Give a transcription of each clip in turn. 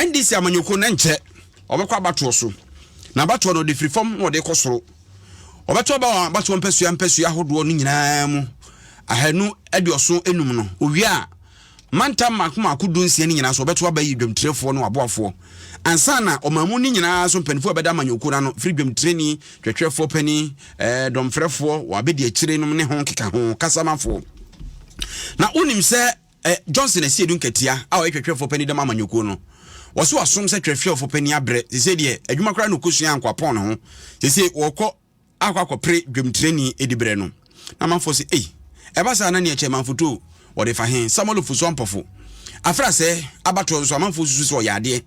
ndc amanyɔkuo no nkyɛ ɔbɛkɔ abatoɔ so na abatoɔ no ɔde firi fam na ɔde kɔ soro ɔbɛto aba wɔn abatoɔ mpasua mpasua ahodoɔ no nyinaa mu ahanu aduɔso enum no owia a Mantam mmaako mmaako dunsia no nyinaa so, wɔbɛto aba ayi dwamtirɛfoɔ ne wɔn aboafoɔ, ansa na ɔman mu no nyinaa so mpanimfoɔ a ɛbɛda amanyɔkuo no ano, firi dwamtirani, twɛtwɛfoɔ panin, ɛɛ, dɔmfrɛfoɔ, wɔn abɛdiakyire nom ne ho keka ho, kasamafoɔ. Na wonim sɛ ɛ, Johnson Asiedu Nkatia a ɔyɛ twɛtwɛfoɔ panin dɛm amanyɔkuo no, wɔse wasom sɛ twɛtwɛfoɔ panin abrɛ, sesei deɛ adwuma koraa na ɔkɔsua ankoapɔn ne ho, sesei wɔkɔ akɔ akɔpere dwamtirani diberɛ no, na amanfoɔ se, Ei, ɛba saa na nea ɛkyɛ manfoto wɔde fa he? Samuel fu so ampɔfo. Afra sɛ abatoɔ nso, amanfoɔ susu sɛ ɔyɛ adeɛ.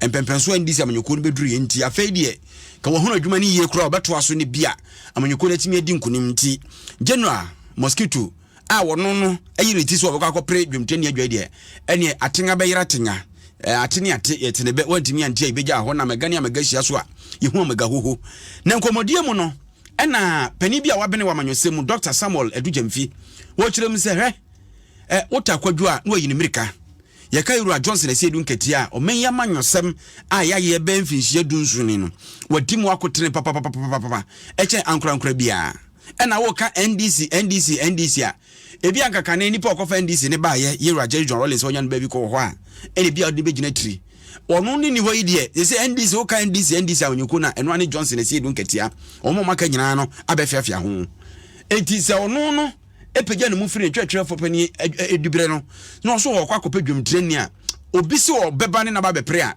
Mpɛmpɛnsoɔ anni sɛ amanyɔkuo no bɛduruiɛ nti, afei deɛ ka wɔahunu adwuma no yie koraa a, wɔbɛtoa so na bi a amanyɔkuo no atumi adi nkonim. Nti General Mosquito a ɔno no ayi ne ti sɛ ɔbɛkɔ akɔpere dwomtoni adwae deɛ ɛneɛ atenya bɛyera atenya ate ne ate yɛtene bɛ wantumi ante a yɛbɛgya hɔ na mɛga ne amɛga hyia so a yɛhu amɛga hoho na nkɔmmɔdie mu no ɛna panin bi a wabene wɔ amanyɔsɛm mu dr samuel adugyamfi wɔkyerɛ mu sɛ hwɛ ɛ wota kwadwo a na wayi ne mmirika yɛka yɛwura johnson ɛsɛ edu nkatia a ɔman yi amanyɔsɛm a yɛayɛ bɛn mfinhyia du nson ni no wadi mu akotene papapapapapa ɛkyɛn ankorankora biara Ɛna woka NDC NDC NDC a, ebi anka kane nipa ɔkɔfa NDC ne baayɛ Yewura Jerry John Rawlings a ɔnya no baabi kɔ wɔ hɔ a, ɛna ebi a ɔde no bɛgyina tiri. Ɔno ne ni hɔ yi deɛ, sese NDC woka NDC NDC a ɔnyɛ kuo no a, ɛno ara ne Johnson Asiedu Nkatia. Wɔn a wɔaka nyinaa no abɛfiafia ho. Enti sɛ ɔno no pagya ne mu firi ne twerɛtwerɛfoɔ panin adubere no na ɔso ɔkɔ akɔpɛ dwamtirani a, obi se ɔbɛba ne naba abɛpere a,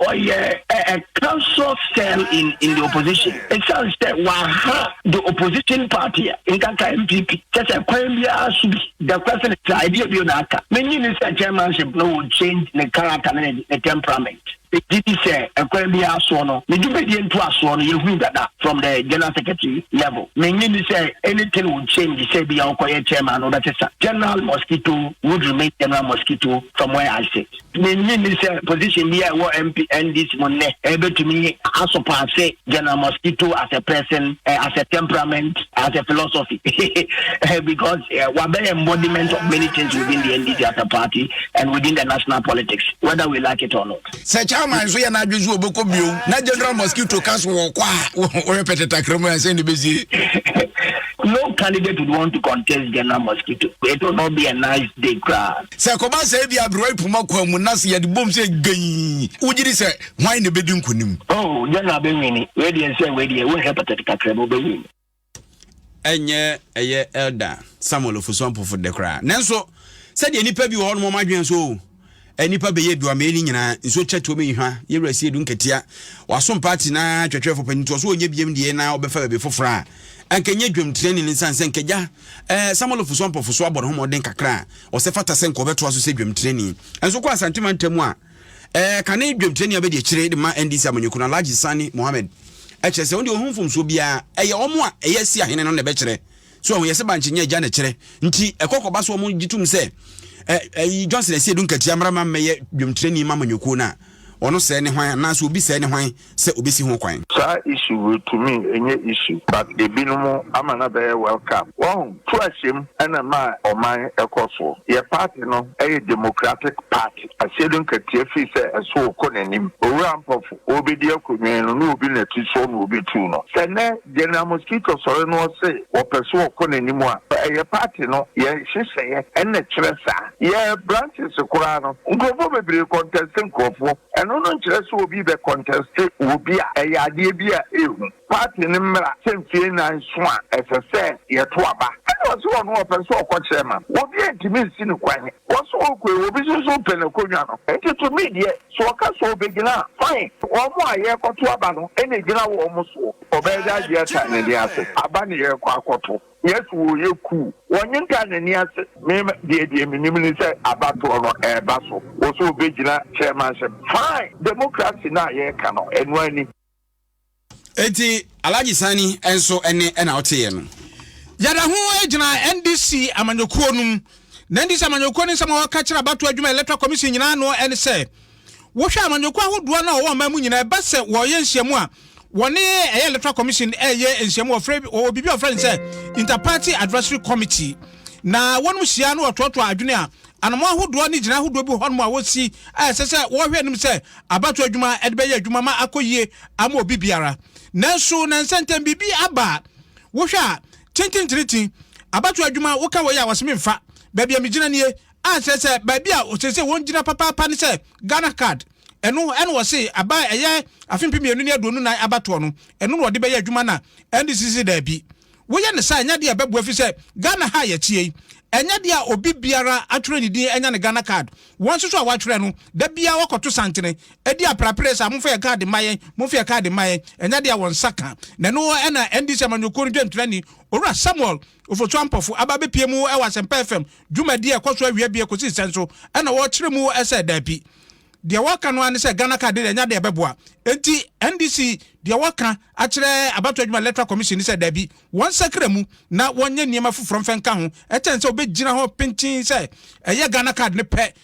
Ɔyɛ a a council still in in the opposition. Ɛsiane sɛ waha the opposition party a nkaka NPP kyɛ sɛ kwan biara so bi the question is a ɛdeɛ bio na aka. Menye ne sɛ chairmanship no will change ne character ne ne temperament. Megye di sɛ ɛkwan biara soɔ no ne dwumadie ntoasoɔ no yɛhunu dada from the general secretary level. Menye ni sɛ anything will change sɛ bi a ɔkɔyɛ chairman no wobɛsesa. General Mosquito would remain General Mosquito from where I sit. Minnye nni sɛ position bi a ɛwɔ MP NDC mu nnɛ betumi asopaase General Mosquito as a person, as a temperament, as a philosophy because wabɛyɛ embodiment of many things within the NDC as a party and within the national politics whether we like it or not. Sɛ Chairman nso yɛ n'adwene so ɔbɛkɔ bio na General Mosquito ka so wɔkɔ a wɔyɛ pɛtɛtakra mu ansa na ɛbɛsie. No candidate would want to contest General Mosquito. It will not be a nice day koraa. Sɛ ɛkɔba sɛ ebia aberewa pum akwan mu na sɛ yɛde bom sɛ gɛnn, wogye di sɛ hwan na ebedi nkonim? Oh, deɛ na abɛnwini. Wei deɛ nsɛ wei deɛ wonhwɛ patati kakra mu wobɛwini. Ɛnyɛ ɛyɛ Elder Samuel Ofosu Ampofo de koraa. Nanso, sɛdeɛ nnipa bi wɔ hɔ nom wɔn adwene so o, nnipa bɛyɛ aduamee no nyinaa, nsuo kyɛtoɔ mi nhwa, yɛwura sie du nkatia, wasom paati na twɛtwɛfo panyin ntoɔ so ɔnyɛ biem deɛ na ɔbɛfa baabi foforɔ a, anka nyɛ dwam tirani no nsan sɛ nka gya eh, Samuel Ofosu Ampofo so abɔ ne ho mmɔden kakra a, ɔsɛ fata sɛ nka ɔbɛtoa so sɛ dwamtirani nso kɔ asante mantam a ɛɛ kane dwamtirani abɛdi akyire de ma ndc amanyɔku no alhaji sani mohammed ɛkyerɛ sɛ wɔn deɛ wɔn mfomsoɔ biara ɛyɛ wɔn a ɛyɛ si ahene no na ɛbɛkyerɛ so wɔn yɛ sɛ bankye nyɛ agya na ɛkyerɛ nti ɛkɔkɔba so wɔn gye tom sɛ ɛyi johnson ɛsi edu nkatia mmara ma mmɛyɛ dwamtirani ma amanyɔkuo no a ɔno sɛɛ ne hwan anaasɛ obi sɛɛ ne hwan sɛ obesi ho kwan. Saa issue wei to me ɛnyɛ issue but ebinom ama no abɛyɛ welcome wahu. Tu ahyɛm ɛna ɛma ɔman ɛkɔ soɔ. Yɛ party no ɛyɛ democratic party ahyɛ no nkatia firi sɛ ɛso rekɔ n'anim. Owura Ampofo ɔrebɛdi akonnwa yi no na obi na ti soɔ na ɔbɛtu no. Sɛ nnɛ General Mosquito sɔre na ɔse ɔpɛ sɛ ɔkɔ n'anim a ɛyɛ party no yɛ nhyehyɛeɛ ɛna ɛkyerɛ saa. Yɛ branches koraa no nkorɔfoɔ bebree contest nkorɔfoɔ. Ɛno no nkyerɛ sɛ obi bɛ kɔntɛste wɔ bi a ɛyɛ adeɛ bi a ɛhu party no mmra sɛ mfie nnan nso a ɛsɛ sɛ yɛto aba. Ɛna ɔse ɔno ɔpɛ sɛ ɔkɔ kyerɛ ma no obi a ntumi nsi no kwan. Ɔse ɔkɔe obi nso so pɛ n'akonwa no nti to me deɛ sɛ ɔka sɛ ɔbɛgyina a fine. Wɔn a yɛrekɔto aba no na ɛgyina wɔn soɔ. Ɔbɛyɛ dɛ agyeɛ tan ne nan ase aba na yɛrekɔ akɔto. Yesu wɔ yɛ kuu. Wɔ nye ntaa n'ani ase. Me deɛ deɛ menim ne sɛ abatoɔ no ɛɛba so. Wɔ sɛ ɔbɛgyina chairmanship. Fine! Democracy no a yɛɛka no, ɛno ara ni. Enti Alhaji Sani nso ɛne ɛna woteeɛ no? Yada ho gyina NDC amanyɔkuo no mu. Na NDC amanyɔkuo no nsɛm a wɔka kyerɛ abatoɔ adwuma electoral commission nyinaa no ne sɛ, Wohwɛ amanyɔkuo ahodoɔ no a wɔwɔ ɔman mu nyinaa, ɛba sɛ wɔreyɛ nhyiamu a, wɔne ɛyɛ Electoral Commission reyɛ nhyiamu, wɔfrɛ, wɔwɔ biribi a wɔfrɛ no sɛ Inter-Party Advisory Committee, na wɔnom hyia na wɔtoatoa adwene a anammɔn ahodoɔ ne gyinae ahodoɔ bi wɔ hɔnom a wɔsi a ɛsɛ sɛ wɔhwɛ anim sɛ abatoɔ adwuma de bɛyɛ adwuma ma akɔ yie ama obi biara. Nanso nnansa ntam biribi aba a wohwɛ a, tintintintin, abatoɔ adwuma, woka wei a wɔse memfa, baabi a megyina nie, A sɛ sɛ baabi a ɔsɛ sɛ wɔn gyina papaapa ne sɛ Ghana card, ɛno na ɔse aba a ɛyɛ afe mpem mmienu ne aduonu nan abatoɔ no, ɛno na ɔde bɛyɛ adwuma na NDC se daabi. Woyɛ no saa a ɛnyɛ adeɛ a ɛbɛboa efisɛ Ghana ha a yɛteɛ yi, ɛnyɛ adeɛ a obi biara atwerɛ ne din anya ne Ghana card. Wɔn nso so a wɔatwerɛ no, da biara wɔkɔto santene di aprapree saa, momfa yɛn card mma yɛn, momfa yɛn card mma yɛn, ɛnyɛ adeɛ a wɔn nsa ka. Na ɛno na NDC amanyɔkuo no dwamtirani, Owura Samuel Ofosu Ampɔfo aba abepie mu wɔ Asɛmpa FM dwumadi a ɛkɔ so awia bia kɔsi sɛn so na wɔrekyere mu sɛ daabi. Deɛ wɔreka no ara ne sɛ Ghana card deɛ ɛnyɛ adeɛ a ɛbɛboa. Enti NDC deɛ wɔreka akyerɛ Abatoɔ Adwuma Electoral Commission ne sɛ daabi, wɔnsakra mu na wɔnyɛ nneɛma foforɔ mfa nka ho kyɛn sɛ wɔbɛgyina hɔ pintinn sɛ ɛyɛ Ghana card no pɛ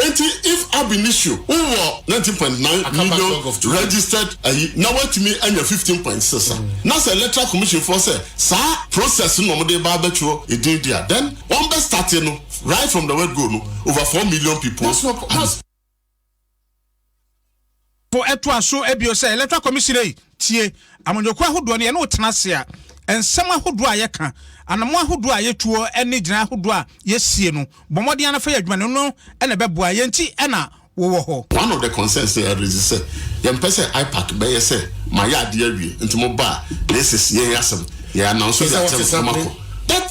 Enti if ab initio wo wɔ nineteen point nine million registered ayi na woatumi anya fifteen point six a, na sɛ electoral commission foɔ sɛ saa process no na wɔde reba abɛtwerɛ edin deɛ a, then wɔn bɛ start no right from the word go no over four million people. po ɛtoa so bio sɛ electoral commission ei tie amanyɔkuo ahodoɔ no yɛne wo tena ase a nsɛm ahodoɔ a yɛka anammɔn ahodoɔ a yɛtuo ne gyinae ahodoɔ a yɛsie no bɔ mmɔden ara fa yɛ adwuma no no na ɛbɛboa yɛn nti na wo wɔ hɔ. One of the concerns na yɛ raise sɛ yɛmpɛ sɛ IPAC bɛyɛ sɛ mayɛ adeɛ awie nti mo ba a na ɛsɛ si yɛn asɛm yɛ announce de akyɛ mo na mo akɔ.